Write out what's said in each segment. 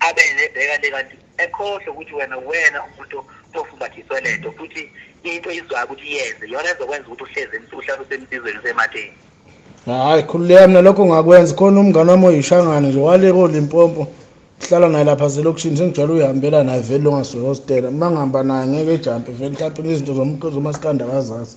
abe nebheka le kanti ekhohlwe ukuthi wena wena umuntu ofumbathiswe le nto futhi into izwayo ukuthi iyenze yona ezokwenza ukuthi uhlezi uhlale usemsizweni usematheni hayi khululeka mina lokho ngakwenza khona umngane wami oyishangane nje waleka olimpompo hlala naye lapha zelokishini sengijwayele uyihambela naye vele longasihostela uma ngihamba naye ngeke ejampe vele mhlawumpe ngezinto zomasikandi akazazi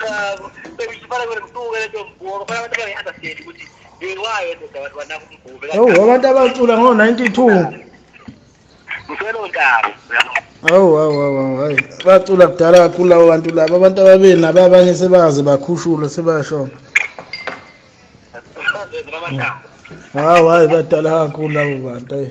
cha bengifana kwena msuke lento mbuka bafana abantu abangi-understand ukuthi yewayo ndoda abantu banaka umgube Hawu abantu abacula ngo-92. mselondaba Hawu hawu hawu hawu, hayi. Bacula kudala kakhulu labo bantu labo. Abantu ababili nabo abanye sebaze bakhushula sebashona. bamathambo Hawu hayi badala kakhulu labo bantu. Hayi.